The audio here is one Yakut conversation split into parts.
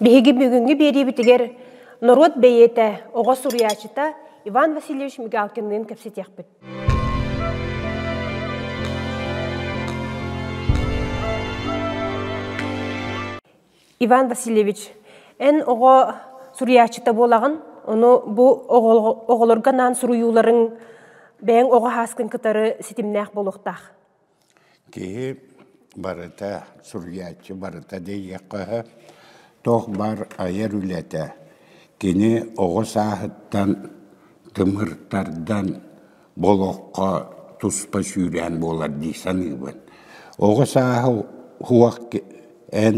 Биһиги бүгүҥҥү биэриибитигэр норуот бэйиэтэ, оҕо суруйааччыта Иван Васильевич Мигалкинныын кэпсэтиэхпит. Иван Васильевич, эн оҕо суруйааччыта буолаҕын, ону бу оҕолорго анаан суруйууларыҥ бэйэҥ оҕо хааскын кытары ситимнээх буолуохтаах. Киһи барыта, суруйааччы барыта диэйиэххэ өһө, туох баар айар үлэтэ. Кини оҕо сааһыттан тымыртардан олоххо туспа сүүрээн буолар дии саныыбын. Оҕо сааһы эн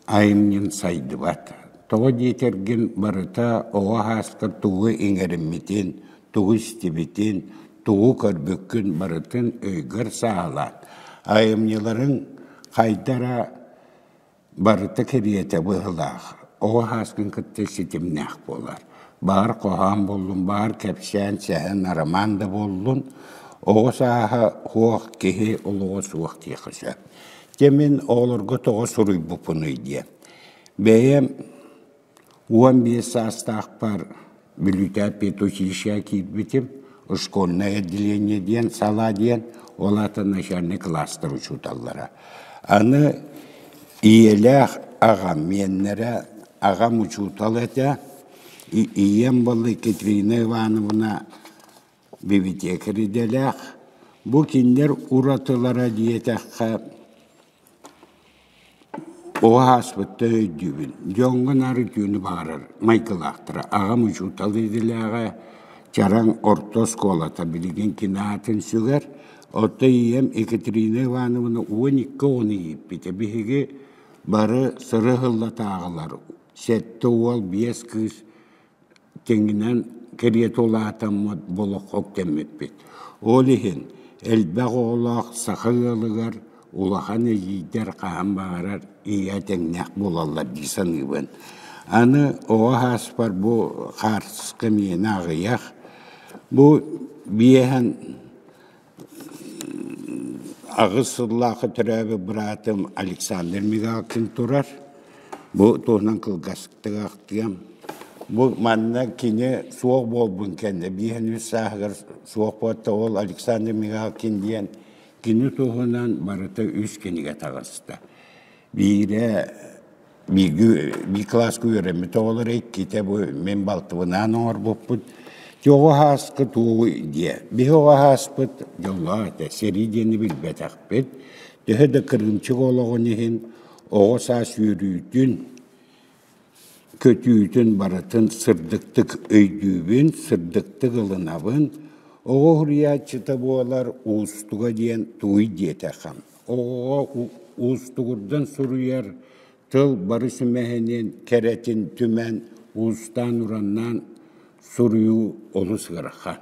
айымньын сайдыбат, тоҕо диэтэргин барыта оҕо аһаастар тугу иҥэриммитин, тугу истибитин, тугу көрбүккүн барытын өйгөр сааһылаан, айымньыларыҥ хайдара барыта кэриэтэ быһыылаах, оҕо аһааскын кытта ситимнээх буолар. Баар хоһоон буоллун, баар кэпсээн, сэһэн, арамаан да буоллун, оҕо сааһа суох, киһи олоҕо суох диэххэ сөп. Дьэ мин оҕолорго тоҕо суруйбуппунуй диэн. Бэйэм уон биэс саастаахпар Бүлүүтээп педучилищеҕа киирбитим, школьное отделение диэн сала диэн, ол аатын начальнай кылаастар учууталлара. Аны ийэлээх аҕам, миэннэрэ аҕам учуутал этэ, ийэм была Екатерина Ивановна Бибитиэкэр идэлээх, бу кинилэр уратылара диэтэххэ, оҕо ааспытта өйдүүбүн, дьоҥҥун арытыыны баҕарар майгылаахтара. Аҕам учуутал идэлээҕэ, чараҥ орто оскуолата билигин кини аатын сүгэр. Оттон ийэм Екатерина Ивановна уон икки оҕону ииппитэ. Биһиги бары сыры ыһыллатааҕылар. Сэттэ уол, биэс кыыс Дьиҥинэн, кэриэтэ улаатаммыт олоххо үктэммиппит. Ол иһин элбэх оҕолоох саха ыалыгар улахан эдьиийдэр хаһан баҕарар ийэ тэҥнээх буолаллар дии саныыбын. Аны оҕо ааспар бу хаартыска миэнэ аҕыйах. Бу биэһэн Аҕыс сыллаах төрөөбүт быраатым Александр Мигалкин турар. Бу туһунан кылгастык ахтыам. Бу манна кини суох буолбун кэннэ биэһинбит сааһыгар суох буолта ол Александр Мигалкин диэн кини туһунан барыта үс кинигэ таҕыста. Биирэ бииргэ бии кылааска үөрэммит оҕолоро иккитэ бу мин балтыбынаан оҥорбуппут Чоҕу һааска туоҕуй диэ. Биһи оҕо һааспыт дьоллоох этэ, сэрии диэни билбэтэхпит. Төһө да кырыымчык олоҕун иһин оҕо саас үөрүүтүн, көтүүтүн барытын сырдыктык өйдүүбүн, сырдыктык ылынабын. Оҕо уһуйааччыта буолар уустуга диэн тугуй диэтэххим. оҕоҕо уустугурдан суруйар тыл бары сүмэһинин, кэрэтин түмэн уустаан-ураннаан суруйуу олус ыарахан.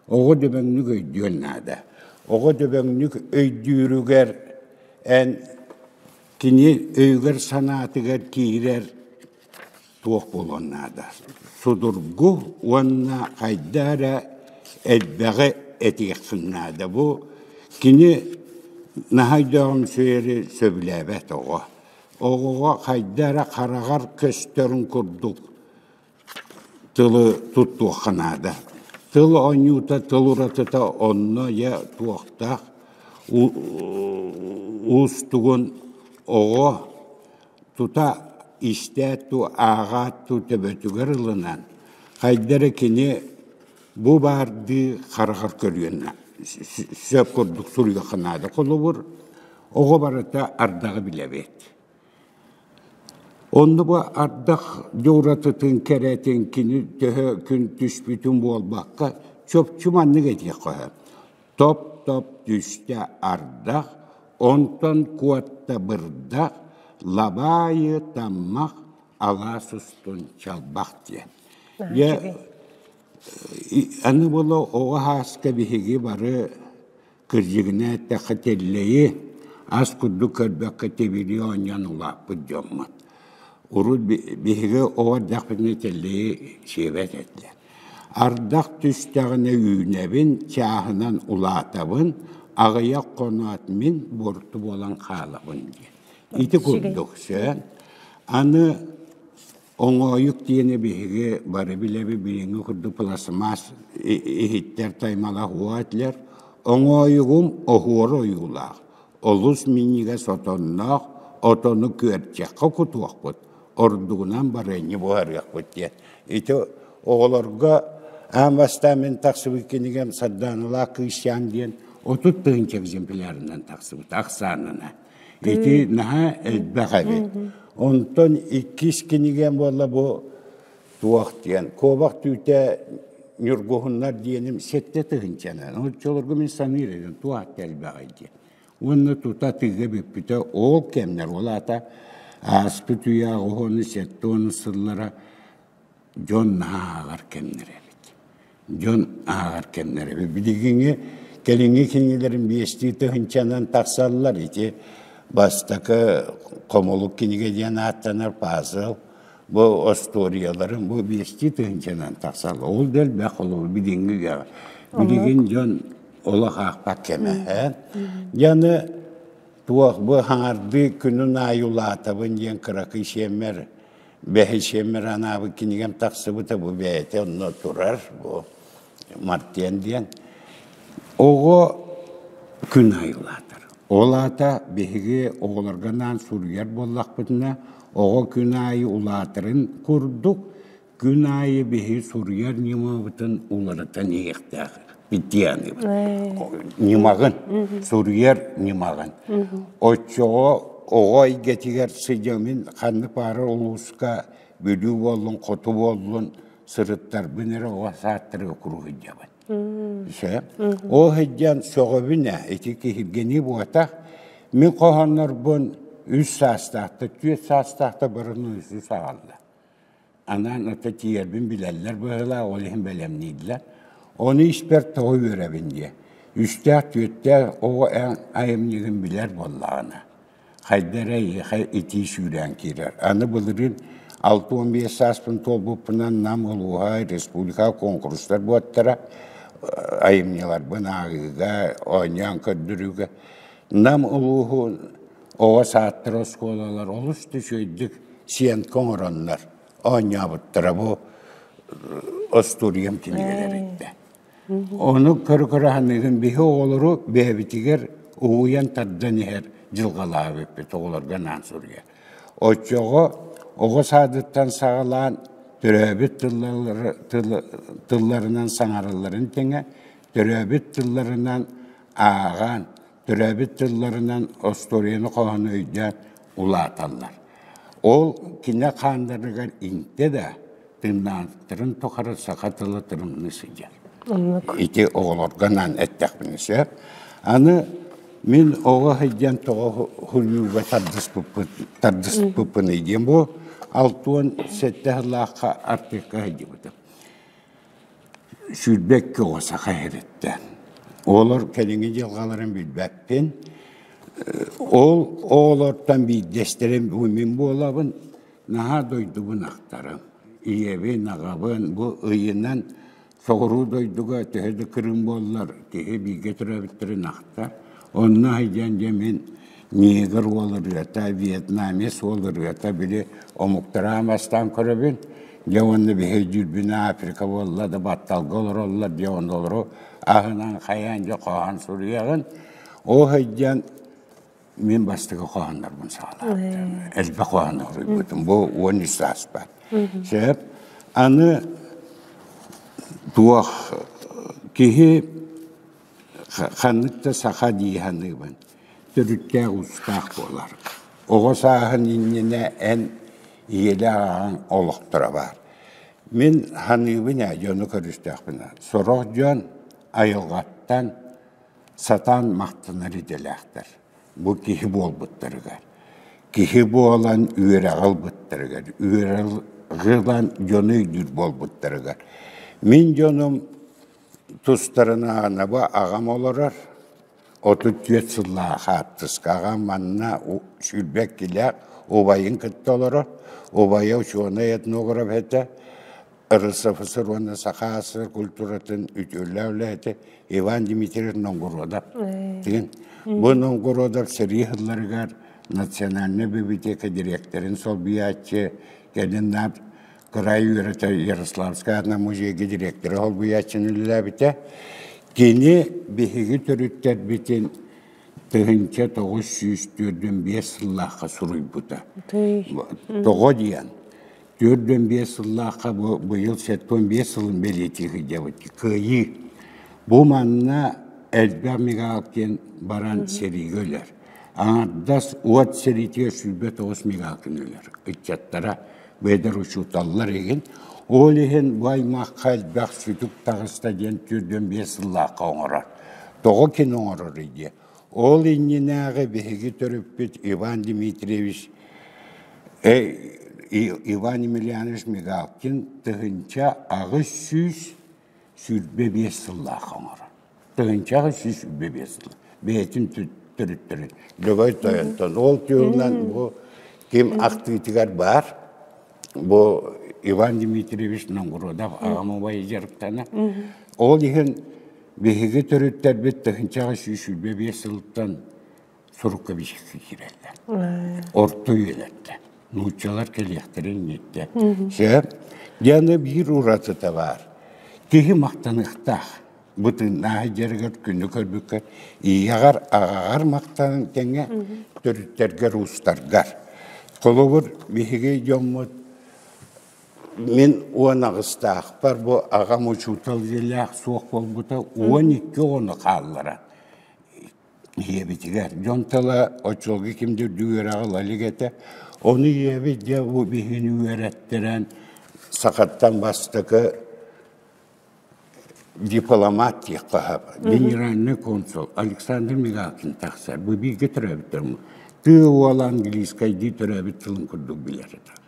Оҕо дөбөҥнүк өйдүөн наада. Оҕо дөбөҥнүк өйдүүрүгэр эн кини өйүгэр-санаатыгар киирэр туох буолуон наада судургу уонна хайдаа эрэ элбэҕи этиэххин наада бу кини наһаа өйдөөҕүмсүйэри сөбүлээбэт оҕо оҕоҕо хайдаа эрэ хараҕар көстөрүн курдук тылы туттуохха наада тыл оонньуута тыл уратыта онно я туохтаах уустугун оҕо тута истээт туу ааҕаат туу төбөтүгэр ылынан хайда эрэ кини бу баардыы хараҕар көрүөнэ сөп курдук суруйуохха наада холобур оҕо барыта ардаҕы билэбит онно бу ардах дьууратытын кэрэтин кини төһө күн түспүтүн буолбакка чопчу маннык этиэх хоһо Топ-топ түстэ ардах, онтон куотта бырдах, лабаайы таммах, алаас устун чалбах диэн. Дьэ, аны була оҕо хааска биһиги бары кырдьыгына эттэххэ тэллэйи ас курдук көрбөккө тибири оонньон улааппыт дьоммут. Урут биһиги оҕо эрдэхпитинэ тэллэйи сиэбэт этилэр. Ардах түстэҕинэ үүнэбин, чааһынан улаатабын, аҕыйах хоноот мин буорту буолан хаалабын диэн. Ити курдук сөп. Аны оҥоойук диэни биһиги бары билэби билиҥҥи курдук пластмасс иһиттэр таймалах уо этилэр. Оҥоойугум оһуора ойуулаах, олус минньигэс отонноох, отону күөрчэххэ кутуохпут, ордугунан барыанньы буһарыахпыт диэн. Ити оҕолорго аан бастаан мин тахсыбыт кинигем Сарданалаах Кыысчаан диэн отут тыһыынча экземплярынан тахсыбыт ахсаанынан. Ити наһаа элбэх эбит. Онтон иккис кинигем буолла бу туох диэн куобах түүтэ Ньургуһуннар диэним сэттэ тыһыынчанан. Оччолорго мин саныыр едим туох элбэх диэн. уонна тута тыыга бүппүтэ ол кэмнэр ол аата ааспыт үйэҕэ уһуну сэттэ уонус сыллара дьон ааҕар кэмнэрэ эбит дьон ааҕар кэмнэрэ билигиҥи кэлиҥҥи кинигэлэрин биэстии тыһыынчанан тахсаллар ити бастакы хомолук кинигэ диэн ааттанар пазл бу остуоруйаларын бу биэстии тыһыынчанан тахсаллар ол да элбэх ол билиҥҥи үйэҕэ билигин дьон олох аахпат кэмэһээн дьаны туох бу хаҥардыы күнүн аайы улаатабын диэн кыракый сиэммэр бэһи сиэммэр анаабы кинигем тахсыбыта бу бэйэтэ онно турар бу мартен диэн оҕо күн айылаатар ол аата биһиги оҕолорго анаан суруйар буоллахпытына оҕо күн аайы улаатарын курдук Күн аайы биһи суруйар ньымабытын уларытан иһиэхтээх питианыбыт. Ньымаҕын, суруйар ньымаҕын. Оччоҕо оҕо эйгэтигэр сыдьамын ханнык баара улууска бүлүү буоллун, хоту буоллун, сырыттарбын эрэ оҕо сааттарыга куруһуйдабын. Ise. Ол сыдьан сөҕөбүн ээ, ити киһиргэнии буотах. Мин хоһооннорбун үс саастаахта, түөрт саастаахта барыны үсүс аҕалла. анаан ата тиийэрбин билэллэр быһыылаах, ол иһин бэлэмнииллэр. Ону испэр тоҕо үөрэбин диэ. Үстээх, түөртээх оҕо эн айымньыгын билэр буоллаҕына, хайда эрэ эйиэхэ итии сүүрээн киирэр. Аны былырыын алта уон биэс сааспын туолбуппунан Нам улууһа, республика конкурстар буоттара, айымньыларбын ааҕыыга, оонньоон көрдөрүүгэ Нам улууһун Оҕо саадтара, оскуолалар олус да үчүгэйдик сиэнка оҥороннор оонньообуттара бу остуоруйам кинигэлэр этэ. Ону көрө-көрө биһи оҕолору бэйэбитигэр угуйан тардан иһэр дьылҕалаабыппыт оҕолорго анаан суруйа. Оччоҕо оҕо саадыттан саҕалаан төрөөбүт тылларынан саҥаралларын тэҥэ, төрөөбүт тылларынан ааҕан, төрөөбүт тылларынан остуоруйаны хоһону өйдөөн улааталлар. Ол кинэ хаандарыгар иҥтэ да тыыннаахтарын тухары саха тылы тырымныы сылдьар. Ити оҕолоргонаан эттэхпинэ сөп. Аны мин оҕо сылдьан тоҕо хунньууга тардыспыппыный диэн бу алтыан сэттэ сыллаахха артыыкка сылдьыбытым. сүүрбэккэ оҕо саха иһититтэн. Оҕолор кэлиҥҥи дьылҕаларын билбэппин. Ол оҕолортон биирдэстэрим мин буолабын. Наһаа дойдубун ахтарым. Ийэбин, аҕабын бу ыйынан соҕуруу дойдуга төһө да кырым буоллар киһи бииргэ төрөөбүттэрин ахтар. Онно сылдьан дьэ мин миигэр уол ырыата, вьетнамец уол ырыата били омуктара бастаан көрөбүн. Дьэ уонна биһи дьүүрбүн Африка буолла да батталга олороллор дьэ ондолору аһынан хайаан дьэ хоһоон суруйаҕын. Оо хайдьан мин бастакы хоһооннорбун саҕалаабытым. Элбэх хоһоон суруйбутум. Бу уон үс сааспар. Сөп. Аны туох киһи ханнык да саха дии саныыбын. төрүттээх-уустаах буолар. Оҕо сааһын иннинэ эн ийэлээх аҕаҥ олохторо баар. Мин саныыбын ээ, дьону көрүстөхпүнэ, сорох дьон айылҕаттан сатаан махтанар идэлээхтэр. Бу киһи буолбуттарыгар. Киһи буолан үөрэҕи ылбыттарыгар, үөрэҕи ылан дьону өйдүүр буолбуттарыгар. Мин дьонум тустарына анаба аҕам олорор, отут түөрт сыллаах хаартыска аҕа манна сүүрбэккилээх убайын кытта олоро. Убайа учуонай этнограф этэ, РСФСР уонна Саха СССР культуратын үтүөлээх үлэһитэ Иван Дмитриевич Нонгородов. Тигин. Бу Нонгородов сэрии хылларыгар национальнай библиотека дириэктэрин солбуйааччы кэнин наап кыраай үөрэтэ Ярославская музейга директора солбуйааччыны үлэлээбитэ. Кини биһиги төрүттэрбитин тыһыынча тоҕус сүүс төрдүн биэс сыллаахха суруйбута. Тоҕо диэн, төрдүн биэс сыллаахха бу быйыл сэттэн биэс сылын бэлиэтии сылдьабыт. Кыайыы. Бу манна элбэх мегалкин баран сэриигэ өлөр. Аҥардас уот сэриитигэр сүүрбэ тоҕус мегалкин өлөр ыччаттара бэдэр учууталлар игин ол иһин бу аймахха элбэх сүтүк таҕыста диэн түрдүн биэс сыллаахха оҥорор тоҕо кини оҥорор идиэ ол иннинээҕи биһиги төрүппүт иван дмитриевич иван емельянович мигалкин тыһынча аҕыс сүүс сүүрбэ биэс сыллаах оҥор тыһыынчаҕа сүүс сүүрбэ биэс сыл бэйэтин төрүттэрин Любой Тойонтон ол түһүнэн бу ким ахтыытыгар баар бу Иван Дмитриевич Нонгородов аҕам убайы дьарыктана ол иһин биһиги төрүттэрбит тыһыынчаҕа сүүс сүүрбэ биэс сылтан сурукка биsikсэ киирэллэр. Орто үөлэттэн. Нууччалар кэлиэхтэрин инниттэн. Сөп. Диана биир уратыта баар. Киһи махтаныахтаах. Бытыннааһы дьарыгар күнү көрбүккэр ийэҕэр, аҕаҕар махтанан тэҥэ төрүттэргэр, уустаргар. Холобур, биһиги дьоммут мин уон аҕыстаахпар бу аҕам учуутал идэлээх суох буолбута уон икки оҕону хаалларан ийэбитигэр. Дьон тыла оччолорго ким да үрдүк үөрэҕи ила илик этэ. Ону ийэбит дьэ бу биһигини үөрэттэрэн сахаттан бастакы дипломат диэххэ сөп. Генеральный консул Александр Мигалкин тахсар. Бу бииргэ төрөөбүттэр. Тыы уол английскайдыы төрөөбүт тылын курдук билэр этэ.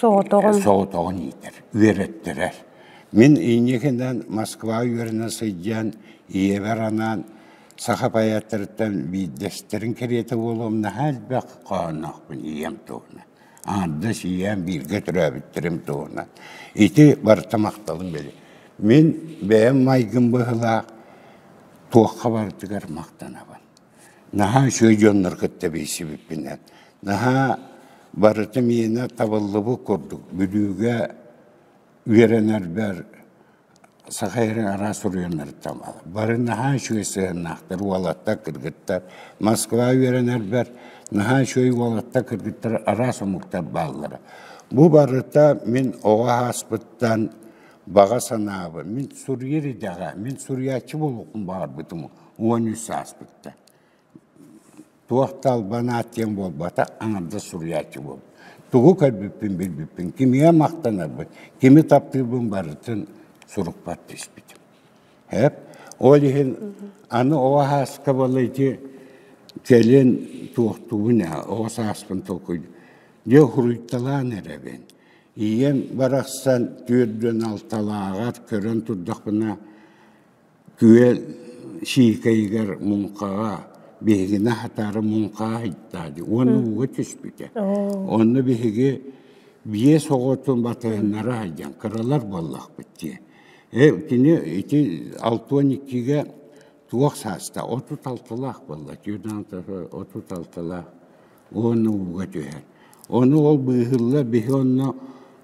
Соҕотоҕун. Соҕотоҕун иитэр, үөрэттэрэр. Мин инникинэн Москва үөрэнэ сылдьан, ийэбэр анаан саха поэттарыттан биирдэстэрин кэриэтэ буолуом наһаа элбэх хоһоонноохпун ийэм туһунан. Аҥардас ийэм бииргэ төрөөбүттэрим туһунан. Ити барыта махталым били. Мин бэйэм майгым быһылаах туохха барытыгар махтанабын. Наһаа үчүгэй дьоннор кытта билсибиппинэн, наһаа барыта миэнэ табыллыбыт курдук Бүлүүгэ үөрэнэрбэр саха эрин араас суруйаннарыттан бары наһаа үчүгэй сыһыаннаахтар уолаттар кыргыттар Москва үөрэнэрбэр наһаа үчүгэй уолаттар кыргыттар араас омуктар бааллара бу барыта мин оҕо ааспыттан баҕа санаабын мин суруйар идэҕэ мин суруйааччы буолуохпун баҕарбытым уон үс сааспыттан. Туох да албанаат диэн буолбата, аҥардас суруйааччы буол. Тугу көрбүппүн билбиппин, кимиэ махтанарбын, кими таптыырбын барытын сурукпар түспүтүм. Эп, ол иһин аны ол хааска балайди кэлин туохтуубун ээ, ол сааспын толкуйдум. Дьэ хуруйталаан эрэбин. Ийэм барахсан түөрдүөн алталааҕар көрөн турдахпына, Күөл Сиикэйигэр муҥхаҕа биһигини аһатаары муҥхаҕа ыһыктаа дии уонна ууга түспүтэ. Онно биһиги биэс оҕотун батыһыннара сылдьан кыралар буоллахпыт дии. Э кини ити алтыан иккигэ туох саастаах отут алтылаах буолла отут алтылаах уонна ууга түһэр. Ону ол быыһылла биһи онно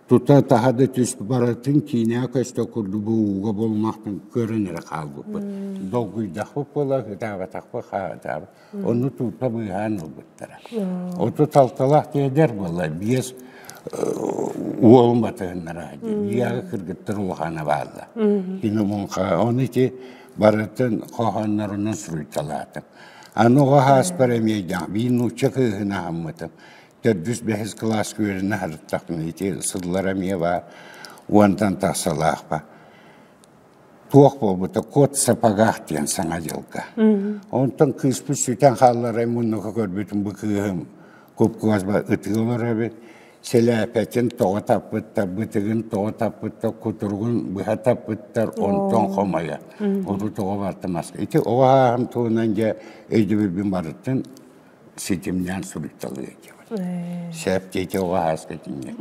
тута таһа да түс барытын киинэҕэ көстө курдук бу ууга болмахпын көрөн эрэ хаалбыппыт. Долгуйдахпыт буола ытаабатахпыт хаатаабы. Ону туута быыһаан ылбыттара. Оту талталаах тиэдэр буола биэс уолум батыһыннара дьиэҕэ кыргыттар улахана баалла. Кини муҥха ону ити барытын хоһооннорунан суруйталаатым. Аны оҕо ааспар эмиэйдэҕэ биир нуучча кыыһын аһаммытым, төрдүс бэһис кылаас күөлүнэ сырыттахпына ити сыллара эмиэ баар уонтан тахсалаахпар туох буолбута кот сапогаах диэн саҥа дьылга. Онтон кыыспыт сүтэн хаалларай муннука көрбүтүм бу кыыһым купкуазба ытыы олорор эбит. Силээпэтин тоҕо таппыттар, бытыгын тоҕо таппыттар, кутуругун быһа таппыттар, онтон хомойо. Оту тоҕо бартамас. Ити оҕо ааһам туһунан дьэ өйдөбүлбүн барытын ситимнээн суруйталыы этибит. Сээпти ити оҕо ааскытинньэ.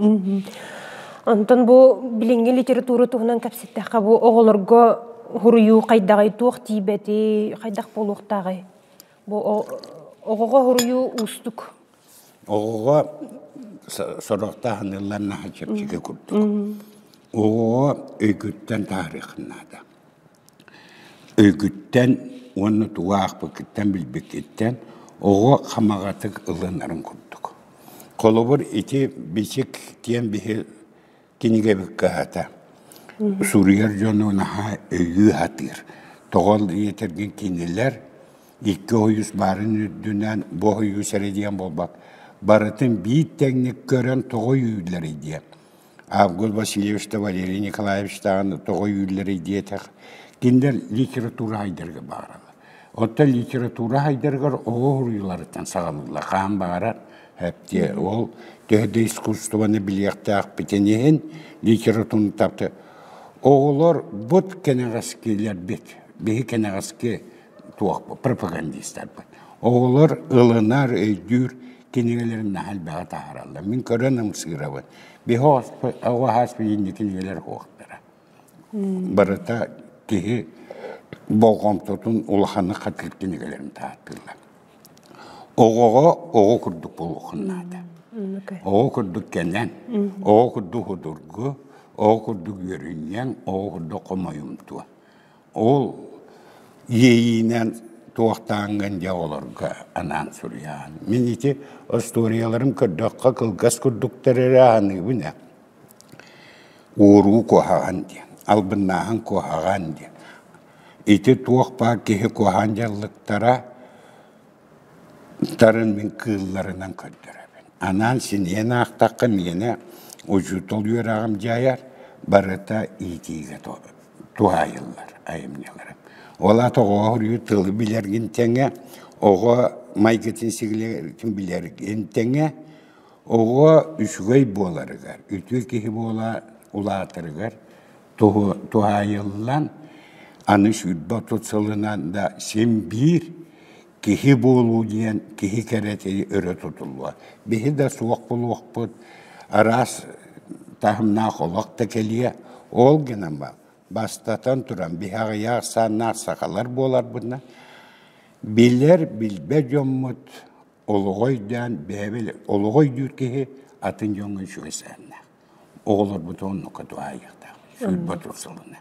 Онтон бу билиҥҥи литература туһунан кэпсэттэххэ бу оҕолорго хуруйуу хайдаҕый, туох тиийбэти, хайдах буолуохтааҕый? Бу оҕоҕо хуруйуу уустук. Оҕоҕо сорохтоох аныылларнаах чэпчэки курдук. Оҕоҕо өйгүттэн таарыаххын наада. Өйгүттэн уонна тугу аахпыккыттан, билбиккиттэн оҕо хамаҕатык ылынарын курдук. Холобур, ити бичик диэн биһи кинигэбит кыһата. Суруйар дьону наһаа өйүү сатыыр. Тоҕо ийэтэргин кинилэр икки ойуус баарын үрдүнэн бу ойуус эрэ диэн буолбак. Барытын биир тэҥник көрөн тоҕо үүллэрий диэн. Август Васильевич да Валерий Николаевич даҕаны тоҕо үүллэрий диэтэх. Кинилэр литература айдарга бааралар. Оттон литература сайдарыгар оҕо уруйуларыттан саҕалыылла хаһан баҕарар эптиэ. Ол төһө да искусствоны билиэхтээхпитин иһин, литератураны тапты оҕолор бут кэнэҕэскилэрбит, биһи кэнэҕэски туохпут пропагандистарбыт оҕолор ылынар, өйдүүр кинигэлэрин наһаа элбэҕи таһаараллар. Мин көрөн ымсыырабын. Биһи оҕо хаас билиҥҥи кинигэлэр суохтара. Барыта киһи болҕомтотун улаханнык хатыырдыы эгэлэрин таһаартылар. Оҕоҕо оҕо курдук буолуохун наада. Оҕо курдук кэнэн, оҕо курдук судургу, оҕо курдук үөрүнньэҥ, оҕо курдук хомойумтуо. Ол иэйиинэн туохтааҥҥын дьэ оҕолорго анаан суруйаҕын. Мин ити остуоруйаларым көрдөххө кылгас курдуктар эрэ аһыныыбын ээ. Уоруу куоһаҕан диэн, албыннааһын куоһаҕан диэн. Ити туох баар киһи куоһаан дьаллыктара тарын мин кыылларынан көрдөрөбүн. Анаан синэйэн аахтахха миэнэ учуутал үөрэҕим дьайар, барыта иитиигэ туһаайыллар айымньыларым. Ол аата оҕоҕор үйэ тылы билэргин тэҥэ, оҕо майгытын сигэлитин билэргин тэҥэ, Оҕо үчүгэй буоларыгар, үтүө киһи буола улаатарыгар туһаайыллан, аны сүүрбэ отут сылынан да син биир киһи буолуу диэн киһи кэрэтии өрө тутуллуо. Биһи да суох буолуохпут, араас таһымнаах олох да кэлиэ. Ол гынан баран, бастатан туран, биһи аҕыйах ахсааннаах сахалар буоларбытынан, билэр, билбэт дьоммут олоҕу өйдөөн бэйэбил олоҕу өйдүүр киһи атын дьоҥҥо үчүгэйсээннээх. Оҕолорбут оннукка дуһаайыахтаах. Сүл Ботур сылына.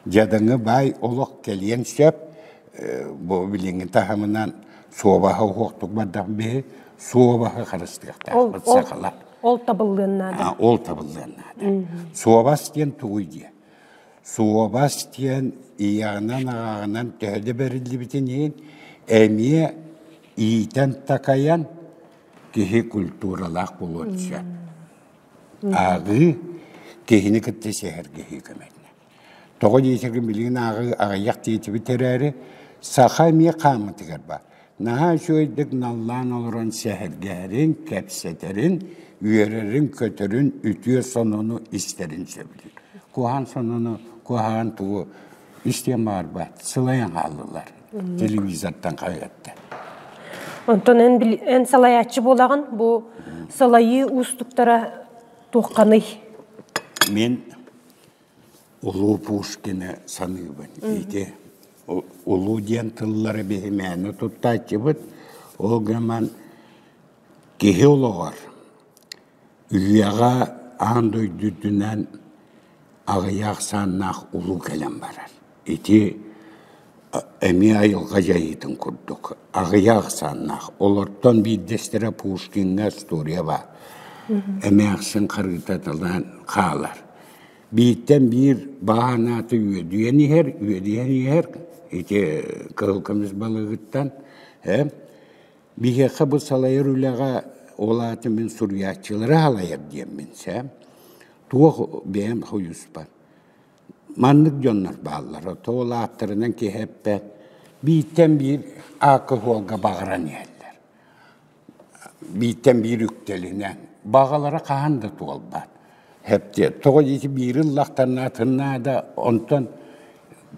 Дьадаҥы баай олох кэлиэн сөп. Бу билиҥҥи таһымынан суобаһа уһуохтук бардах биһи суобаһы харыстыахтаахпыт сахалар. Ол табыллыан наада. Ол табыллыан наада. Суобас диэн тугуй диэ. Суобас диэн ийэҕинэн-аҕаҕынан төһө да бэриллибитин иһин, эмиэ иитэн-такайан киһи культуралаах буолуон сөп. Ааҕыы, киһини кытта сэһэргэһии көмөлөнөр. Тоҕо диэтэргин билигин ааҕыы аҕыйах диэтибит эрээри, саха эмиэ хааммытыгар баар. наһаа үчүгэйдик наллаан олорон сэһэргэһэрин, кэпсэтэрин, үөрэрин-көтөрүн, үтүө сонуну истэрин сөбүлүүр. Куһаҕан сонуну, куһаҕан тугу истиэн баарбат, сылайан хааллылар телевизортан хаһыатта. Онтон эн, эн салайааччы буолаҕын, бу сылайыы уустуктара туохханый? Мен Улуу Пушкины саныыбын. Ити улуу диэн тыллары биһимээни туттааччыбыт. Ол гынан киһи олоҕор, үйэҕэ аан дойду үрдүнэн аҕыйах аахсааннаах улуу кэлэн барар. Ити эмиэ айылҕа дьайыытын курдук аҕыйах ахсааннаах. Олортон биирдэстэрэ Пушкиҥҥа история баар. Эмээхсин харыытаталаан хаалар. Бииртэн биир бааһынааты үөдүйэн иһэр, үөдүйэн иһэр ити кыһыл көмүс балыгыттан. Э? Биһиэхэ бу салайар үлэҕэ, ол аата мин суруйааччылары салайар диэммин сэ, туох бэйэм хойуспар. Маннык дьоннор бааллар, тоол ааттарынан киһи эппэт, бииртэн биир алкоголга баҕаран иһэллэр. Бииртэн биир үктэлинэн, баҕалара хаһан да туолбат. Тоҕо диэки биири ыллахтарына атыннаа да, онтон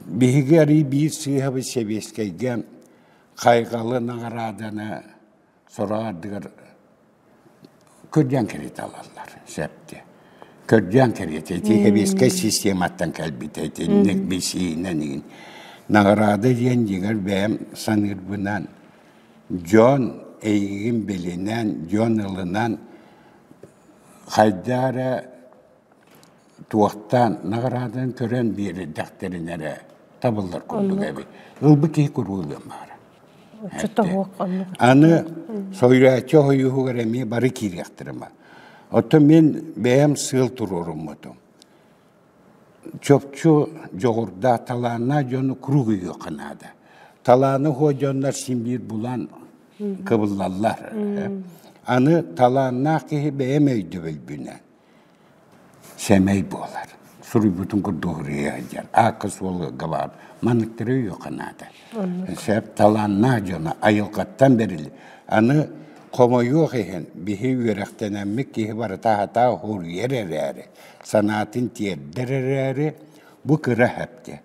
биһиги арыый биир сыыһабыт сэбиэскэйгэ хайҕалы, наҕарааданы сорох ардыгар кырдьан кэриэтэ ылаллар сөпкө. Кырдьан кэриэтэ ити хэбиэскэй систематтан кэлбитэ итинник бисиинэн игин. Наҕараада диэн дьиҥэр бэйэм саныырбынан дьон эйигин билинэн, дьон ылынан хайдаа эрэ туохтаан наҕарааданы көрөн биэрэрдэхтэринэ эрэ табыллар курдук эбит. Ылбыт киһи куруулуон баара. Аны союзааччы хойууһугар эмиэ бары киириэхтэрэ. Оттон мин бэйэм сыал туруоруммутум. Чопчу дьоҕурдаах талааннаах дьону круг үйүөххэ наада. Талааны хуо дьоннор син биир булан кыбыллаллар. Аны талааннаах киһи бэйэм өйдөбүлбүнэн Сэмэй буолар, суруйбутун курдук уруйа сылдьар, аакка-суолга габаар манныктары өйүөххэ наада. Сөп талааннаах дьоно айылҕаттан бэриллэр. Аны хомойуох иһин, биһи үөрэхтэнэммит киһи барыта аһатаа уһуруйар эрээри, санаатын тиэрдэр эрээри, бу кыра эһэпкэ.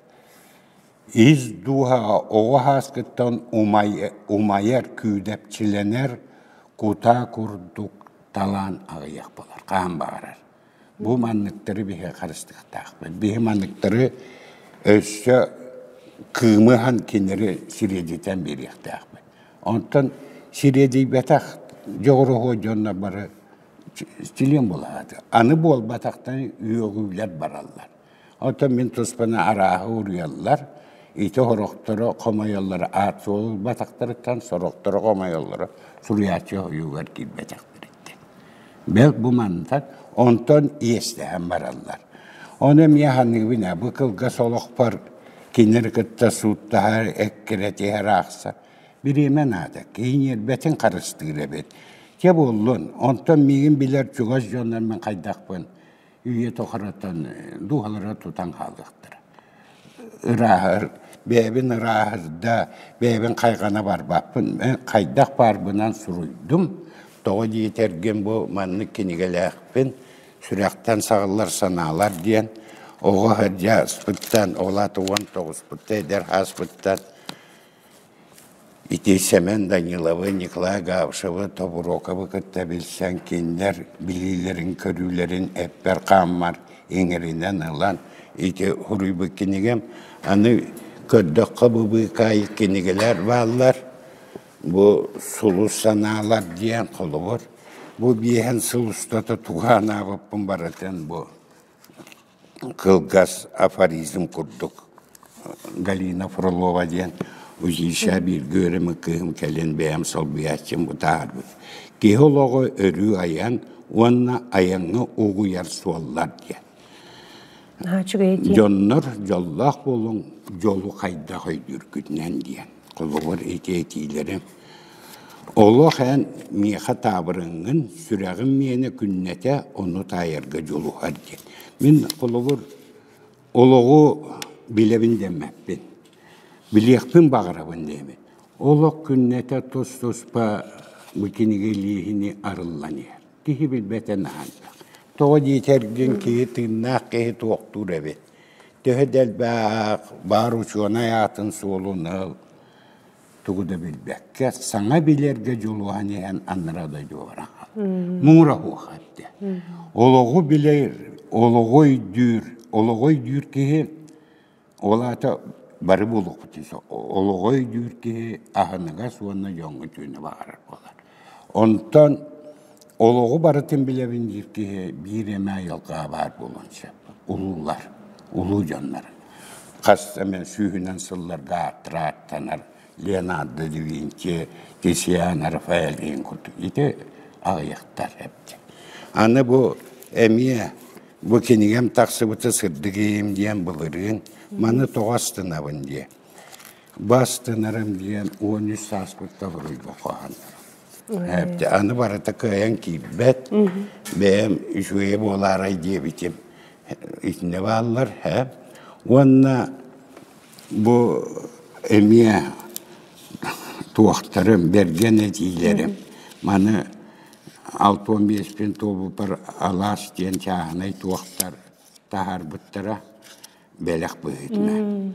Ис дууһа оҕо сааскыттан умайар, күүдэпчилэнэр, кутаа курдук талаан аҕыйах буолар, хаан баҕарар. Бу манныктары биһиги харыстыахтаахпыт. Биһи манныктары өссө кыымыһан кинилэри сириэдитэн биэриэхтээхпит. Онтон сириэдийбэтэх дьоҕуруһуо дьоннор бары чилиэн буолаат, аны буолбатахтан үөҕүүлэр бараллар. Оттон мин туспаны арааһы уруйаллар, ити сорохторо хомойоллоро аат суол ылбатахтарыттан сорохторо хомойоллоро суруйааччы хойуугар киирбэтэхтэриттэн. Бэл бу мантан онтон иэстэһэн бараллар. Ону эмиэ ханыыбын бу кылгас олохпор кинилэри кытта сууттаһар, эккирэтиһэр аахса. Бириэмэ наада, киһи ньиэрбэтин харыстыыр эбит. Чэ буоллун, онтон миигин билэр чугас дьоннор мин хайдахпын үйэ тухарытан дууһалара тутан хаалыахтара. Ырааһар, бэйэбин ырааһырда, бэйэбин хайҕана барбаппын, мен хайдах барбынан суруйдум. Тоҕо диэтэргин бу маннык кинигэлээхпин, сүрэхтэн саҕыллар санаалар диэн оҕо сылдьаспыттан, ол аата уон тоҕуспутта эдэр сааспыттан Ити Сэмэн Даниловы, Ньыкылай Габышевы, Тобуруокабы кытта билсэн кинилэр билиилэрин-көрүүлэрин эппэр-хааммар иҥэринэн ылан ити суруйбут кинигэм. Аны көрдөххө бу быыкаайык кинигэлэр бааллар. Бу сулус санаалар диэн холобур. Бу биэһин сыл устата туһаан аабыппын барытын бу кылгас афоризм курдук Галина Фролова диэн училищеҕа бииргэ үөрэммит кыыһым кэлин бэйэм солбуйааччым бутаарбыт киһи олоҕу өрүү айан уонна айаҥҥа угуйар суоллар диэн дьоннор дьоллоох буолуҥ дьолу хайдах өйдүүргүтүнэн диэн холобур ити этиилэри олох эн миэхэ таабырыҥҥын сүрэҕим миэнэ күннэтэ ону таайарга дьулуһар диэн мин холобур олоҕу билэбин дэммэппин билиэхпин баҕарабын диэбин олох күннэтэ тус-туспа бу кинигэ илииһини арыллан иһэр киһи билбэтэ наһаа тоҕо диэтэргин киһи тыыннаах киһи туохтуур эбит Төһө да элбэх баар учуонай аатын суолуна тугу да билбэккэ саҥа билэргэ дьулуһан иһэн аннара дойдуолара муҥура хуха эттэ олоҕу билэр олоҕу өйдүүр олоҕу өйдүүр киһи ол аата бары буолуохпут олоҕу өйдүүр киһи аһыныгас уонна дьоҥҥо түүнү баҕарар буолар Онтон олоҕу барытын билэбин диир киһи биир эмэ айылҕаҕа баар буолуон сөп. Улуулар, улуу дьоннор. Хас эмэ сүүһүнэн сылларга ааттар Леонардо да Винчи, Тисиано, Рафаэль иһин курдук ити аҕыйахтар эбит. Аны бу эмиэ бу кинигэм тахсыбыта сырдык ийэм диэн былырыын маны тоҕо астынабын дии. Бастанарым диэн уон үс сааспыт табылыйба хоһанарым. Эбти аны барыта кыайан киирбэт. Бэйэм үчүгэйэ буолаарай диэбитим. Итиннэ бааллар, һэ. Уонна бу эмиэ туохтарым, бэргэн этиилэрим. Маны алта уон биэспин туолбуппар алаас диэн чааһынай туохтар таһаарбыттара. бэлэх быһыытынан.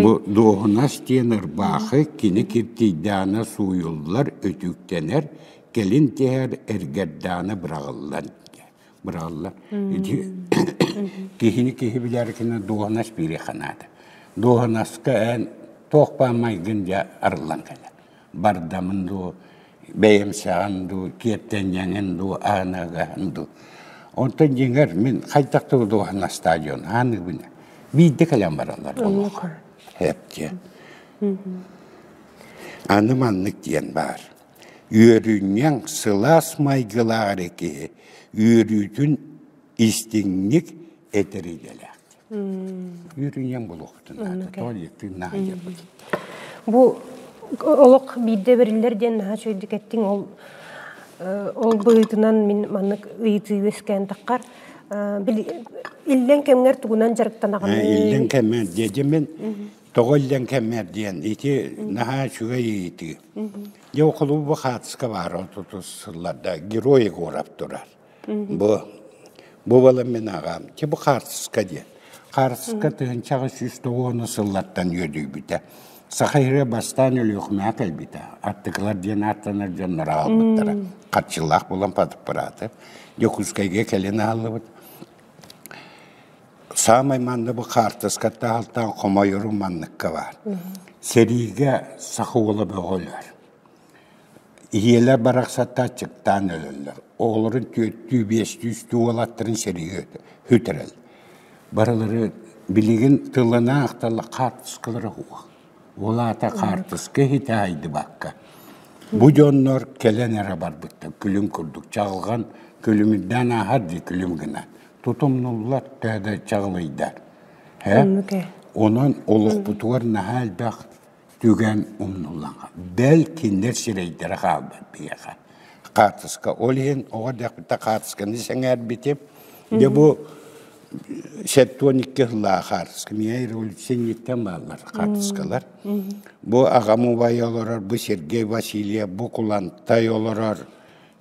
Бу дуоһунас диэн ырбаахы кини киртийдээнэ сууйуллар, үтүктэнэр, кэлин тиһэр эргэрдээнэ быраҕыллан быраҕыллар. Киһини киһи билэркинэ дуоһунас биири ханаата. Дуоһунаска эн туох баа майгын дьа арыллан кэлэ. бардамын дуу, бэйэм саҕан дуу, киэптэнньэҥин дуу, ааныагаһын дуу. Онтон дьиҥэр мин хайдах тутулуһан стадион ааныыбын биирдэ кэлэн бараллар олох. Эпте. Аны маннык диэн баар. Үөрүнньэҥ сылаас майгылаах эрэ киһи үөрүүтүн истиҥник этэрилэлээх. Үүрүҥэн булуохтун. Тоҕо диэктин наадыйарбыт. Бу олох биирдэ бэриллэр диэн наһаа үчүгэйдик эттиҥ. Ол ол быһыытынан мин маннык ыйытыы үөскээн таххар иллэҥ кэмҥэр тугунан дьарыктанаҕын? Иллэҥ кэммэр диэдим мен тоҕо иллэҥ кэммэр диэн ити наһаа үчүгэй ыйытыы. Дьэ холобур хаатыска баар отутус сылларда герой Егоров турар. Бу бу балан мин аҕам чи бу хаартыска диэн. Хаартыска тыһынчаҕы сүүс тоҕуона сыллаттан үөдүйбүтэ. Саха иһэ бастаан Өлүөхүмэҕэ кэлбитэ. Аттыкылар диэн ааттанар дьоннор аҕалбыттара. Харчылаах булан патаппараты. Дьокуускайга кэлин ааллыбыт. Саамай манна бу хаартыскаттан алтан хомойору манныкка бар. Сэриигэ саха уола бөҕөлөр. Ийэлэр барахсаттааччыктаан өлөллөр, оҕолорун түөртүү, биэстүү үстүү уолаттарын сэрии үтэрэр, барылары билигин тыллана-ахтала хаартыскалара ол аата хаартыска иһитэ-аһайдыбакка бу дьоннор кэлэн эрэ барбыттар күлүм курдук чаҕылҕан күлүмүрдээн ааһар дии күлүм гынан тутумнуллар төһө да чаҕылыйдар ээ онон олохпутугар наһаа элбэх Түгэн умнуллаҕа. Бэл, кинилэр сирэйдэрэ хаалбыт биһиэхэ. Хаартыска ол иһин оҕо дэхитэ хаартысканы сэҥээрбитим. Дьэ бу септоникке ыллаах хаартыска. Меня революционниктан бааллар хаартыскалар. Бу аҕам убайа олорор, бу Сергей Васильев, бу Кулантай олорор,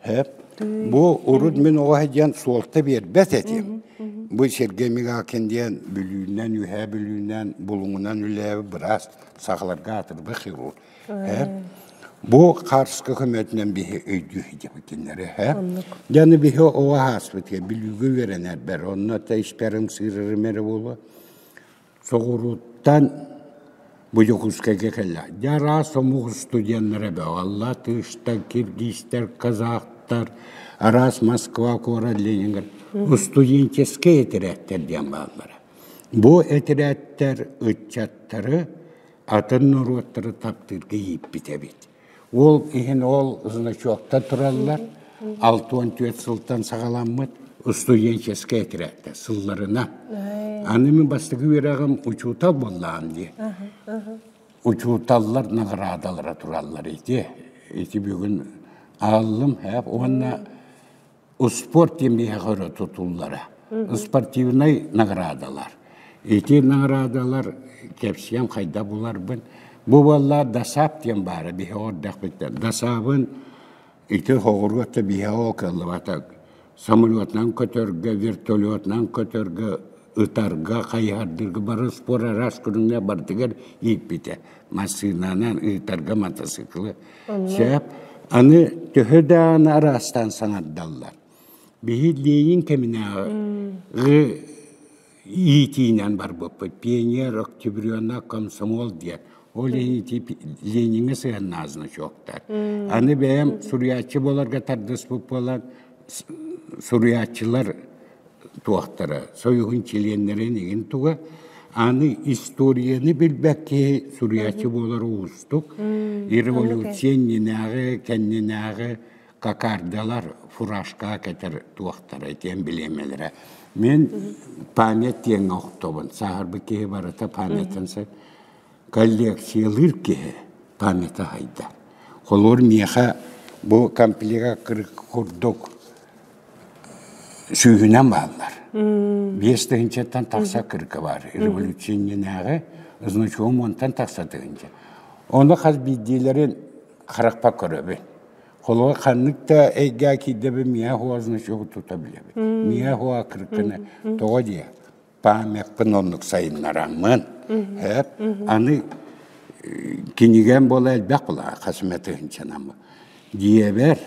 Эп, бу урут мин оҕо сылдьан суолта биэрбэт этим. Бу Сергей Мигалкин диэн Бүлүүннэн, Үһээ Бүлүүннэн, Булуҥунан үлээбит быраас сахаларга атырба хирург. Э. Бу Харска көмөтүнэн биһи өйдүү сидябыт кинилэри. Э. Дьаны биһи оҕо ааспыт Бүлүүгэ үөрэнэрбэр, онно та испэрим сыырырым эрэ буолуо. Соҕурууттан Будьукуускайга кэллэ. Дьэ араас омук устудьуоннара бөҕөллөр, тыыштар, киргизтэр, казахтар, араас Москва куорат, Ленинград устуденческэй этэрээттэр диэн бааллара. Бу этэрээттэр ыччаттары, атын норуоттары таптыырга ииппит эбит. Уол иһин ол значоктар тураллар, алта уон түөрт сылтан саҕаламмыт устуденческая тирээктэр сылларына. Аны мин бастакы үөрэҕим учуутал буоллаам дии. Учууталлар наҕараадалара тураллар ити. Ити бүгүн ааллым һээп уонна успуорт диэн биһиэхэ өрө тутуллара. Спортивнай наҕараадалар. Ити наҕараадалар кэпсиэм хайда буларбын. Бу буоллар дасаап диэн баара биһиэхэ ордохпуттан. Дасаабын ити хоҕуруот да биһиэхэ ол кыллыбата самолетунан көтөргө, вертолетунан көтөргө ытарга, хайыһардыырга бараспор араас көрүҥҥэ барытыгар ииппитэ. Массыынанаан ыытарга мотоциклы. Сөп. Аны төһө даҕаны араастаан саҥардаллар, биһилиэйин кэминээҕи иитиинэн барбыппыт. Пионер, октябрена, комсомол диэн. Ол иһити Лениҥҥэ сыһаннаа значоктар. Аны бэйэм суруйааччы буоларга тардыспыт буолан, суруйааччылар туохтара союһун чилиэннэрин игин туга аны историяны билбэт киһи суруйаччы буолар уустук революция иннинээҕи кэннинээҕи какардалар фуражкаға кэтэр туохтара диэн билиэмэлэрэ мен память диэн охтобун сааһырбыт киһи барыта памятын сыр Коллекциялыыр киһи памята аһыйда. Холуор миэхэ бу комплекка кырык курдук сүүһүнэн бааллар. Биэс тыһынчаттан тахса кырка бар. Революционнааҕы значком онтан тахса тыһынча. Оны хас биирдиилэрин харахпа көрөбүн. Холуга ханнык да эйгэ киирдэбин миэхуа значогу тута билебит. Миэхуа кыркыны тоҕо диэ. памятпын оннук сайыннараммын эп аны кинигэм буола элбэх була хасметыһынчанам диэбэр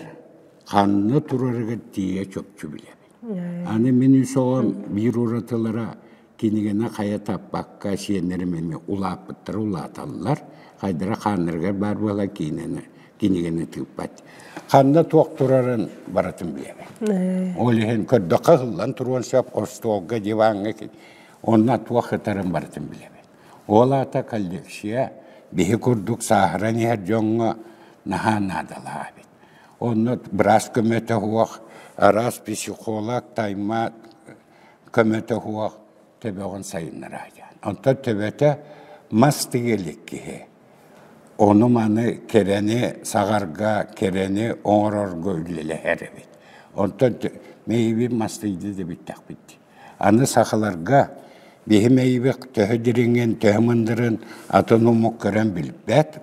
ханна турарыгар тиийэ чопчу билэбин аны мин үсоҕом биир уратылара кинигини хайа таппакка сиэннэрим эмиэ улааппыттара улааталлар хайдара хааннарыгар баар буолан кинини кинигэни тыыппат. Ханна туох турарын барытын билэбин. Ол иһин көрдөххө ыһыллан туруон сөп остуолга, диваҥҥа онно туох кытарын барытын билэбин. Ол аата коллекция биһи курдук сааһыран иһэр дьоҥҥо наһаа наадалаабыт. Онно быраас көмөтө уох, араас психолог, таймаат көмөтө уох төбөҕүн сайыннара Онтон төбөтө мас тигилик киһи. Ону-маны, кэрэни саҕарга, кэрэни оҥорорго үлэлэһэр эбит. Онтон мэйиибин мастыйда да бүттэхпит. Аны сахаларга биһи мэйиибит төһө дириҥин, төһө мындырын атын омук көрөн билбэт,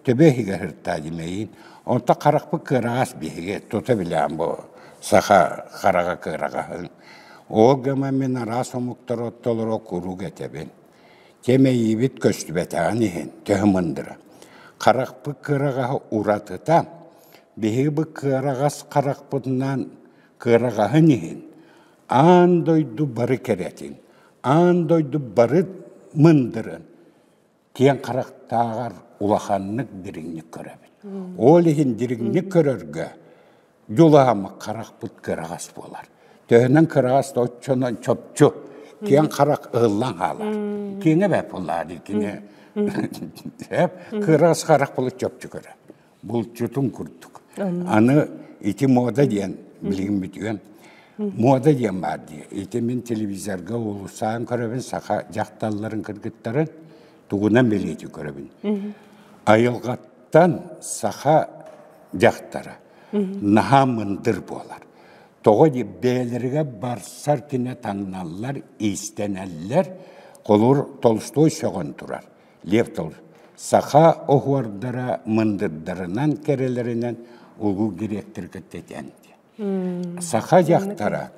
төбө иһигэр сырыттаа дии мэйиин. Онтон харахпыт кыараҕас биһиги, тута билэҕин бу саха хараҕа кыараҕаһын. Ол гынан мин араас омуктары оттолоро куруук этэбин. Дьэ мэйиибит көстүбэтэҕин иһин төһө мындыра, харахпыт кыараҕаһа уратыта, биһиги кыараҕас харахпытынан кыараҕаһын иһин аан дойду бары кэрэтин, аан дойду бары мындырын киэҥ харахтааҕар улаханнык дириҥник көрөбүт. Ол иһин дириҥник көрөргө дьулаһаммыт харахпыт кыраҕас буолар. Төһөнөн кыраҕас да оччонон чопчу. Киэҥ харах ыһыллан хаалар. Киэҥэ бэп буллаа дии кини. Эп кыраҕас харах булут чопчу көрө. Булчутун курдук. Аны ити мода диэн билиммит үөн. Мода диэн баар дии. Ити мин телевизорга уулуссаан көрөбүн, саха дьахталларын кыргыттарын тугунан билиити көрөбүн. Айылҕаттан саха дьахтара наһаа мындыр буолар. Тоҕо дии бэйэлэригэ барсар түнэ таҥналлар, иистэнэллэр, холур толстой сөҕөн турар. Лев Толс саха оһуордара мындырдарынан, кэрэлэринэн улуу дириэктэр кытта этэн Саха дьахтара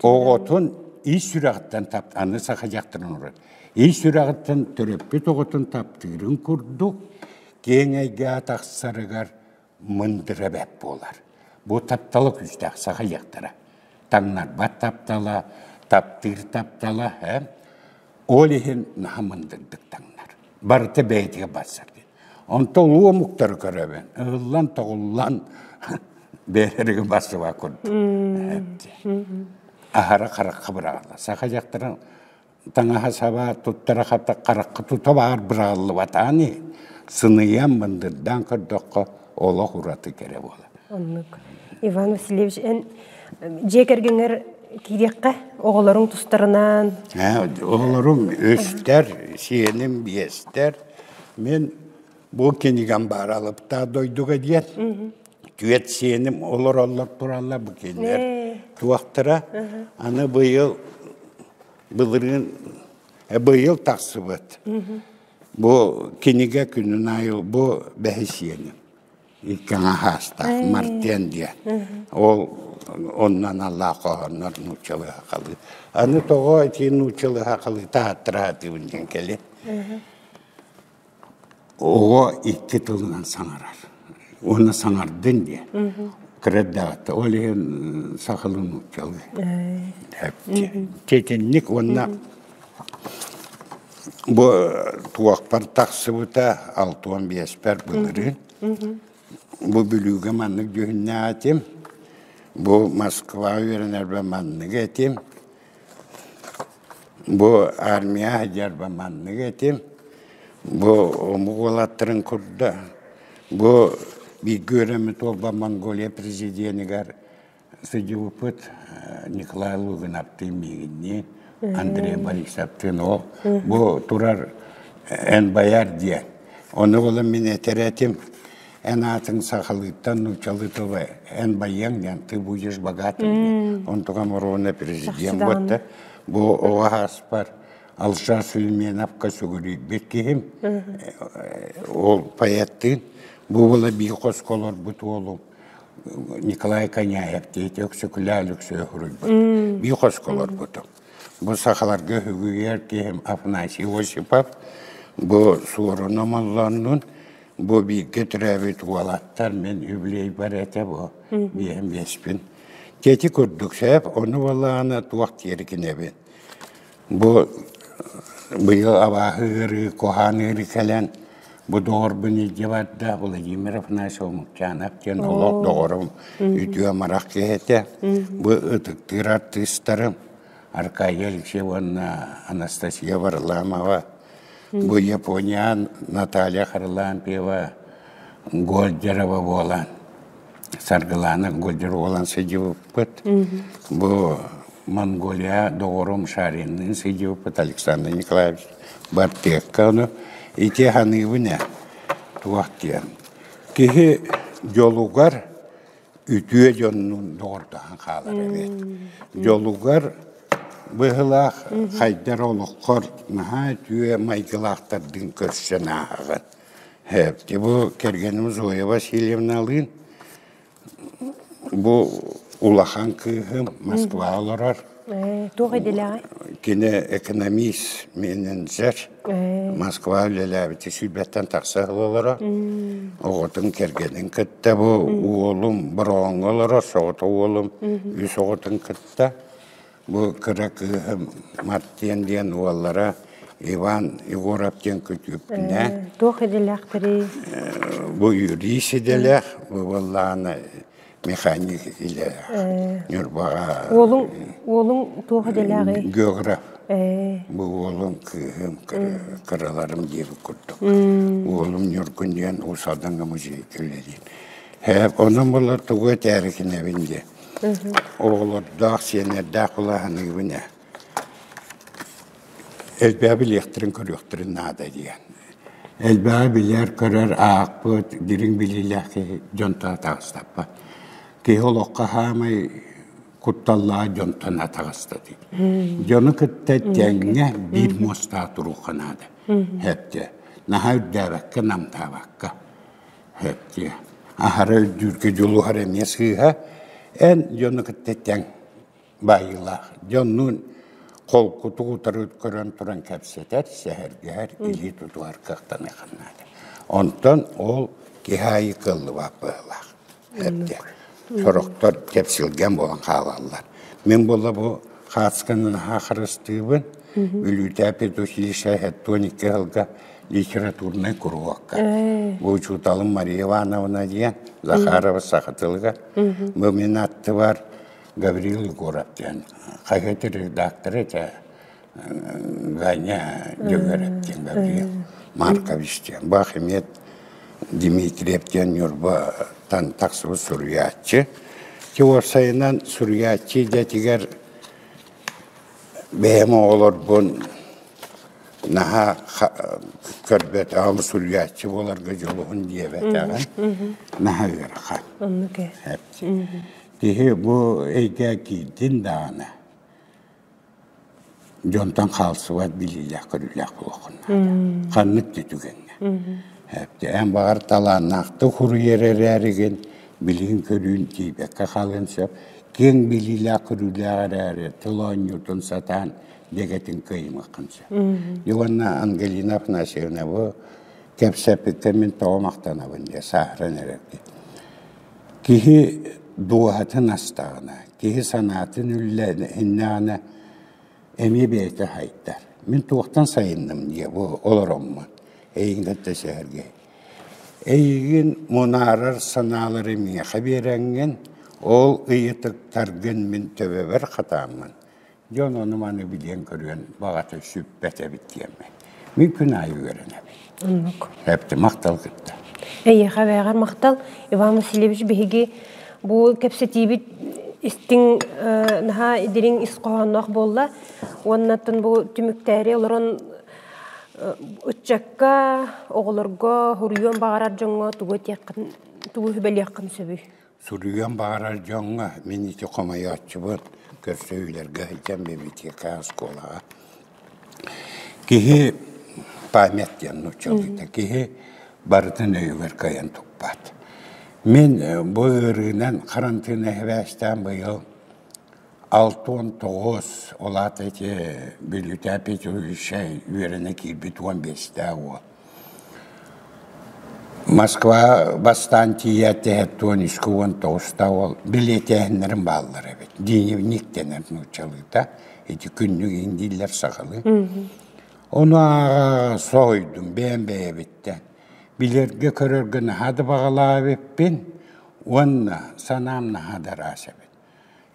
оҕотун ис сүрэҕиттэн тап аны саха дьахтарын орот ис сүрэҕиттэн төрөппүт оҕотун таптыырын курдук киэҥ эйгэҕэ тахсарыгар мындыра бэп буолар. Бу таптала күүстээх саха дьахтара. Таҥнарбат таптала, таптыыр таптала, һэ? Ол иһин наһаа мындырдык таҥнар. Барыта бэйэтигэр барсар диэн. Онтон уу омуктары көрөбүн. Ыыллан-тоҕуллан бэйэлэригин барсыбат курдук. Аһара харахха быраҕылла. Саха дьахтарын таҥаһа саба туттара хата харахха тута баар быраҕыллыбатаҕа ини. Сыныйан, мындырдаан көрдөххө олох ураты кэрэ буолар. Оннук. Иван Васильевич, эн дьиэ кэргэҥэр киириэххэ оҕолоруҥ тустарынан. Оҕолорум үстэр, сиэним биэстэр. Мен бу кинигам баар алыптаа дойдуга диэн. Түөт сиэним олороллор тураллар бу кинилэр туохтара. Аны быйыл былырыын быйыл тахсыбыт Бу кинигэ күнүн аайы бу бэһисиэни кэҥэ хаастаах Мартен диэн ол онно аналлаах хоһооннор нууччалыы-хахалыы аны тоҕо ити нууччалыы-хахалыы тааттыраатыыбын диэн кэлиэ оҕо икки тылынан саҥарар уонна саҥардын диэн кыреддаҕыта ол иһин сахалыы нууччалыы тетинник уонна Бу туохпар тахсыбыта алта уон биэспэр былырыын. Бу Бүлүүгэ маннык дьүһүннээтим. Бу Москваҕа үөрэнэрбэр маннык этим. Бу армияҕа сылдьарбар маннык этим. Бу омук уолаттарын курда. Бу бииргэ үөрэммит уолбар Монголия президенигэр сыдьылыппыт Николай Лугиновтыын миигиннии Андрей Борисовтыын ол бу турар эн байар диэн ону олом мин этэрээтим эн аатын сахалыыттан нуучалыытова эн байыаң диэн ты будешь богатым диэн онтуга морона президент да бу оҕа ааспар алша сульменовка сүгүрүйбүт киһим ол поэттыын бу була би хосколорбут уолум Николай Коняев дети Өксөкүлээл Өксөй хоруйбут. Бии хосколорбуту. Бу сахаларга үгүйэр киһим Афанасий Осипов бу суорун омоллоннун. Бу бииргэ төрөөбүт уолаттар мен юбилей бар этэ бу. Биэм беспин. Тети курдук сеп, ону балаана туох тиэркинебин. Бу быйыл абааһы ыарыы, куһаан ыарыы кэлэн, бу доҕорбун илдьэ барда Владимир Афанасьевич Омукчанов диэн олох доҕорум, үтүө амарах киһи этэ. Бу ытыктыыр артыыстарым Аркадия Алексеевна Анастасия Варламова, бу Японян Наталья Харлампьева, Гольдерова буолан, Саргылаана Гольдер уолан сыдьыбыппыт. Бу Монголия доҕорум Шаринныын сыдьыбыппыт Александр Николаевич бартыакка ону ити ханыыбын э туох диэн киһи дьолугар үтүө дьоннун доҕордоһон хаалар эбит дьолугар быһылаах хайдар олоххор наһаа үтүө майгылаахтардын көрсөн ааһаҕын Бу кэргэним Зоя Васильевналыын бу улахан кыыһым Москва олорор. Туох идэлээҕий? Кини экономист, менеджер. Москва үлэлээбити сүүрбэттэн тахсар олоро. Оҕотун кэргэнин кытта бу уолум Бороҥҥо олорор, соҕото уолум үс оҕотун кытта. Бу кыра кыыһым Мартен диэн уоллара Иван Егоров диэн күтүөппүнэ. Туох идэлээхтэрий? Бу юрист идэлээх, бу буоллаана механик идэлээх. Ньурбаҕа. Уолуҥ уолуҥ туох идэлээҕий? Географ. Бу уолум кыыһым кыраларым диэбит курдук. Уолум Ньургун диэн Уус Алдаҥа музей үлэлиир. Онон булар тугу этээри кинэбин диэ. Оҕолордоох, сиэннэрдээх кулааһыныыбын ээ. Элбэҕи билиэхтэрин, көрүөхтэрин наада диэн. Элбэҕи билэр, көрөр, аахпыт, дириҥ билиилээх киһи дьонтон атаҕастаппат. Киһи олоххо хаамай кутталлаах дьонтон атаҕастатыы. Дьону кытта тэҥҥэ биир муостаах турууха наада. Эптэ. Наһаа үрдээбэккэ, намтаабакка. Эчи, аһара өйдүүргэ дьулуһар эмиэ сыыһа. Эн дьону кытта тэҥ баайыылаах. Дьоннуун холкутук утары көрөн туран кэпсэтэр, сэһэргэһэр, илии тутуһар кыахтаныаххын наада. Онтон ол киһи аайы кыаллыбат быһыылаах. Эрдэ. Сорохтор кэпсилгэн буолан хаалаллар. Мин була бу хаацканы наһаа харыстыыбын. Бүлүүтээ педучилище хэттуон икки сылга литературнай куруокка. Бу учууталым Мария Ивановна диэн Захарова саха тылыгар. Бу мин аттыбар Гаврил Егоров диэн хаһыат редактора этэ. Ганя Дьөгүөрэп диэн дарыйа Маркович диэн Бахимет Дмитриев диэн Ньурба Тантах субу суруйааччы. Тиуарсайынан суруйааччы идэтигэр бэйэм оҕолорбун наһаа көрбөт аҕам суруйааччы буоларга дьулуһун диэбэтэҕин наһаа ыарахан. Киһи бу эйгэ киирдин даҕаны Дьонтон хаалсыбат билиилээх-көрүүлээх буолуоххун наада. Ханнык да түгэҥҥэ. Эн баҕар талааннаахтык суруйар эрээригин, билигин-көрүүн тиийбэккэ хаалыан сөп. Киэҥ билиилээх-көрүүлээх эрээри тыл оонньуутун сатаан дэгэтин кыайымыаххын сөп. Дьэ уонна Ангелина Афанасьевна бу кэпсэппиккэ мин тоҕо махтанабын диye сааһыран эрэр киһи дууһатын астаҕына киһи санаатын үллэһиннэҕинэ эмиэ бэйэтэ сайдар. Мин туохтан сайынным диэ бу олороммун эйигин кытта сэһэргэһи. Эйигин мунаарар санаалары миэхэ биэрэҥҥин, ол ыйытыктаргын мин төбөбөр хатааммын. Дьон ону-маны билиэн-көрүөн баҕата сүппэт эбит диэммин. Мин күн аайы үөрэнэбин. Оннук. Эпти махтал кытта. Эйиэхэ бэҕэр махтал. Иван Васильевич биһиги бу кэпсэтиибит истиҥ наһаа дириҥ ис хоһоонноох буолла уоннаттан бу түмүктээри олорон ыччакка оҕолорго хоруйуон баҕарар дьоҥҥо тугу этиэххин тугу сүбэлиэххин сөбүй Суруйуон баҕарар дьоҥҥо мин ити хомойооччубут, көрсүһүүлэргэ сылдьан библиотека оскуолаҕа. Киһи память диэн нууччалыыта киһи барытын өйүгэр кыайан туппат. Мин бу ыарыынан харантыына эбээстээн быйыл Алта уон тоҕус, ол аата ити Бүлүүтээ Петровичай үөрэнэ киирбит уон биэстээх уол. Москва бастаан тиийээт эһэт уон үскэ уон тоҕустаах уол билиэтээһиннэрин бааллар эбит. Дневник дэнэр нууччалыыта. Ити күннүк индииллэр сахалыы. Ону ааҕа соһуйдум бэйэм бэйэбиттэн. Билэргэ көрөргө наһаа да баҕалаах эбиппин уонна санаам наһаа да ыраас эбит.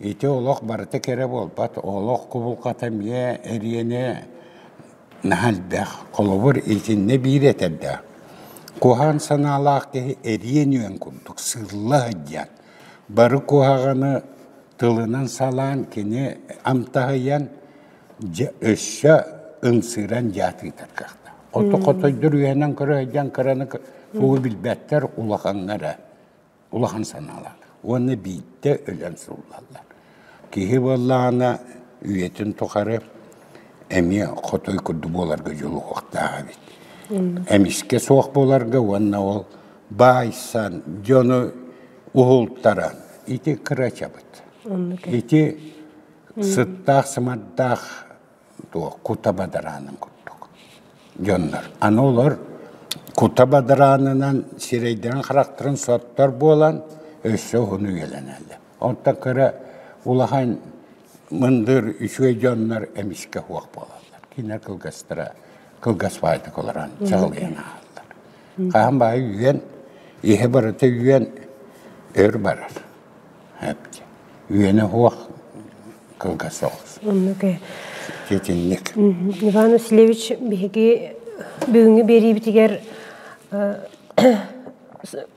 Ити олох барыта кэрэ буолбат, олох кубулҕата эмиэ, эриэнэ наһаа элбэх. Холобур, итиннэ биир этэрдээх: куһаҕан санаалаах киһи эриэн-үөн курдук сылла сылдьан, бары куһаҕаны тылынан салаан, кини амтаһыйан, өссө ымсыыран дьаат ыытар кыахтаах. Хоту-хотойдор үөһэнэн көрө сылдьан кыраны субу билбэттэр улахаҥҥа эрэ. улахан санаалаах уонна биирдэ өлөн сыллаллар. Киһи буоллаҕына үйэтин тухары эмиэ хотой курдук буоларга дьулуһуохтаах эбит. Эмискэ суох буоларга уонна ол баайсан, дьону уһултаран ити кырачабыт. Ити сыттаах-сымардаах туох кута бадараанын курдук. Дьоннор аны олор кута бадараанынан сирэйдэрин-харахтарын соттор буолан өссө уһун үйэлэнэллэр. Онтон кыра улахан мындыр үчүгэй дьоннор эмискэ уох буолаллар. Киинэ кылгастара кылгас баайдык олорон чаҕылыйан аһаллар. Хаһан баайы үүйэн, иһэ барыта үүйэн өр барар. үөнэ уох кылгас оҕус. Итинник. Иван Васильевич биһиги бүгүҥҥү биэриибитигэр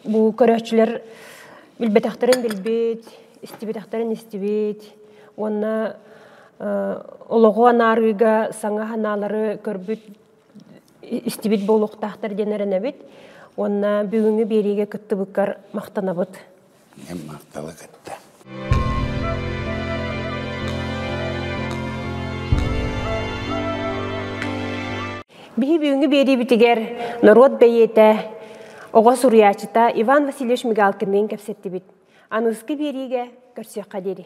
бу көрөөччүлэр билбэтэхтэрин билбит, истибэтэхтэрин истибит уонна олоҕу анаарыыга саҥа санаалары көрбүт истибит буолуохтаахтар диэн эрэнэбит уонна бүгүҥҥү биэриигэ кыттыбыккар махтанабыт. ийэм Мартала кытта. Биһи бүгүҥҥү биэриибитигэр норуот бэйиэтэ, оҕо суруйааччыта Иван Васильевич Мигалкинныын кэпсэттибит. Аныгыскы биэриигэ көрсүөххэ диэри.